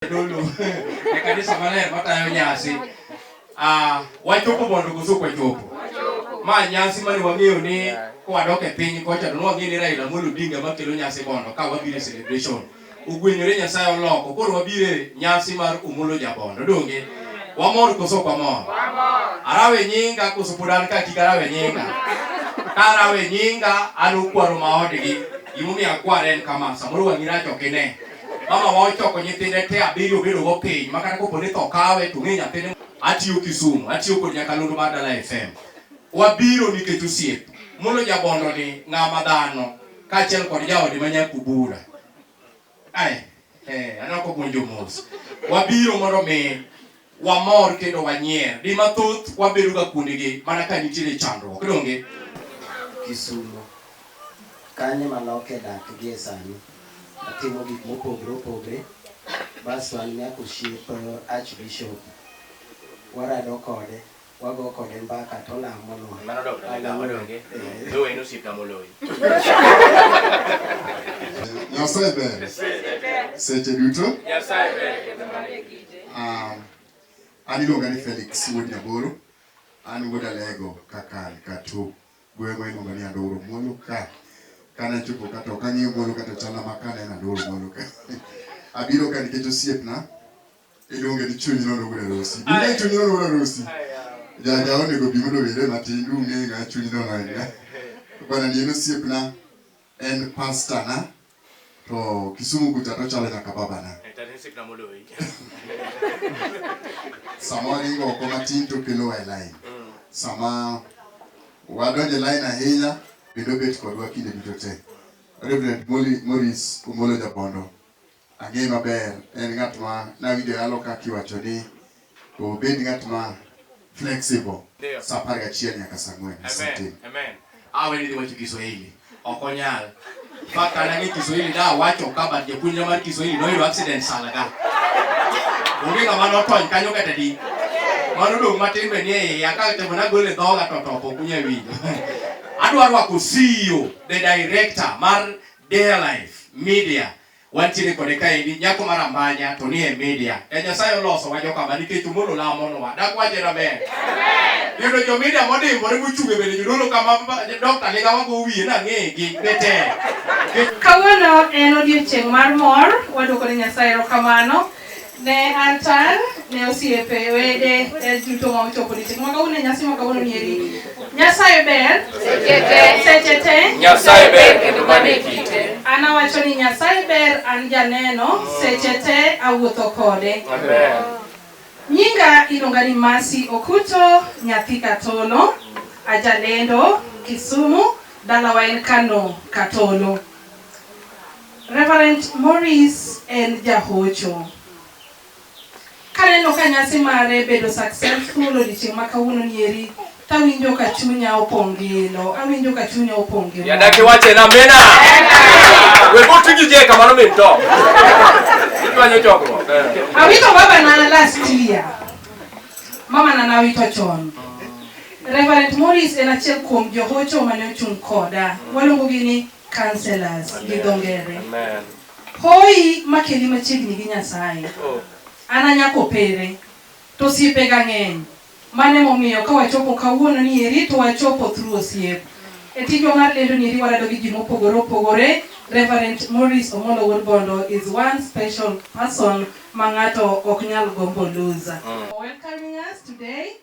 Dolo e kanisa maler matayo nyasi ah, wachopo mondo koso ok wachopo ma nyasi mane wang'eyo ni kwadok e piny kocha to nwang'e ni Raila Amolo Odinga makelo nyasi bondo ka wabiro e celebration ogwenyore Nyasaye oloko koro wabiro e nyasi mar Omolo Jabondo donge wamor koso ok wamor arawe nyinga koso pod an ka kik arawe nyinga ka arawe nyinga an okwaro maodgi gimomiyo akware en kama samoro wang'i rach ok ine Mama wa ochoko nyithinde te abiriyo obedo go piny ma kata kopo ni tho kawe to ng'e nyathine. Atiyo Kisumu, atiyo kod Nyakalondo mar Dala FM. Wabiro nikech osiep. Mulo jabondo ni ng'ama dhano kaachiel kod jaode ma Nyakubura. Ai, eh, anako puonjo mos. Wabiro mondo mi wamor kendo wanyier. Di mathoth wabedoga kuondegi mana ka nitiere chandruok. Donge? Kisumo. Kanye ma loke dak gie sani. Atimo gik mopogre opogre. Bas wan nyaka oshiep Archbishop. Warado kode. Wago kode mbaka to olamo nwa. Mano dok na ga odonge. Yo en osip na moloyi. Nyasaye ber. Seche duto. Nyasaye ber. Ah, an iluonga ni Felix Wuod Nyaboro. An wuod Alego kaka Katu. Gweng'wa iluonga ni Andoro Molo ka. Kana chopo kata ok ang'eyo Molo kata chala ma kana en Andoro Molo ka. Abiro ka nikech osiepna. Iluonge ni chuny nono wuod arusi. Ine chuny nono wuod arusi. Jaja onego bi mondo owere matin dung'e ng'a chuny nono ahinya. Bwana ni en osiepna, en pasta na, to Kisumu kucha to chalo nyaka babana. Sama waringo oko matin to kelo e line. Mm. Sama wadonjo e line ahinya, bedo bet kodwa kinde duto te. Reverend Morris Omolo Jabondo. Ang'eye maber, en ng'at ma nawinjo yalo ka kiwacho ni obed ng'at ma flexible Ndio. saa apar gachiel nyaka saa ang'wen Amen. asetim. Amen. Awe ni wacho Kiswahili. Ok onyal. Mpaka kane ang'e Kiswahili da wacho ka but japuonjra mar Kiswahili noyudo accident sana ka. Onge ng'ama notony kanyo kata di. Mano dong' matin be ni e iya ka temo nagolo e dhoga to top ok unyal winjo. Adwa rwako CEO, the director mar Dear Life Media Wantiere kode kaendi nyako mar ambanya to ni e media. E Nyasaye oloso wa joka ma nikech omolo lamo nwa. Dak wache na ber. Yudo jo media modimbore mochunge bende jodolo kama dokta ni gawa go wiye na ng'e gi bete. Kawuono en odiechieng' mar mor, wadwoko ne Nyasaye erokamano Ne an tang' ne osiepe, wede, e duto ma ochopo ni chik. Mwaka huu ne nyasi mwaka huu ni eri. Nyasaye ber. Seche te. Seche te. Nyasaye ber kendo mane kite. An awacho ni Nyasaye ber, an janeno, seche te awuotho kode. Amen. Nyinga iluonga ni Masi Okuto, nyathi Katolo, ajalendo Kisumu, dalawa en Kano Katolo. Reverend Maurice en jahocho. Kaneno ka nyasi mare bedo successful odiochieng' ma kawuono nieri, tawinjo ka chunya opong' gi ilo, awinjo ka chunya opong' gi Yada kiwache na mena. We go to you jeka mano min to. Itwanyo chokruok. Awito baba na last year. Mama na nawito chon. Reverend Maurice en achiel kuom johocho mane ochung' koda. Waluongogi ni Counselors gi dho ngere. Amen. Hoi makeli machiegni gi Nyasaye. Oh. An anyako pere to osiepe ga ng'eny. Mane momiyo ka wachopo kawuono ni eri to wachopo through osiep. E tijwa mar lendo ni eri warado gi ji mopogore opogore. Reverend Morris Omolo Wuod Bondo is one special person ma ng'ato ok nyal gombo lose. Mm. Welcoming us today.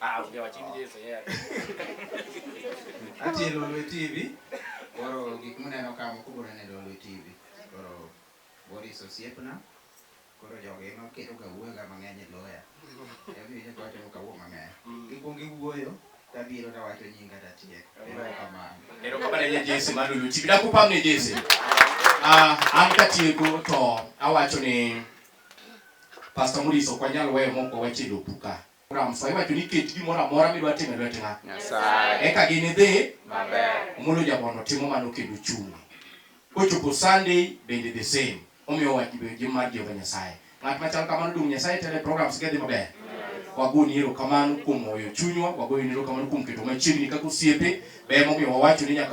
Ah, onge wach in Jesu yeah. Atie Lolwe TV. Koro gik muneno ka moko biro neno e Lolwe TV. Koro Boris osiepna. Koro jogi ema kelo ga wuoyo ga mang'eny e loya. Ema winjo ka wacho ka wuo mang'eny. Gikwongo giwuoyo tabiro tawacho nyinga tatiek. Erokamano. Erokamano ne Jesu mar Lolwe TV. Dakupam ne Jesu. Ah, an katieko to awacho ni Pastor Muriso ok wanyal weyo mok wawach e lopu ka. Ramswa iwacho ni ket gimoro amora midwa timo e lwet ng'a. Nyasaye. Eka ginidhi Maber. Omolo Jabondo timo mano kendo chungo. Kochopo Sunday bende the same. Omiyo wach be gi mar Jehova Nyasaye. Ng'at machal kamano dong' Nyasaye tele programs ge dhi maber. Wagoni erokamano kuom hoyo chunywa, wagoyoni erokamano kuom keto machiegni kaka osiepe. Ber momiyo wawacho ni nyaka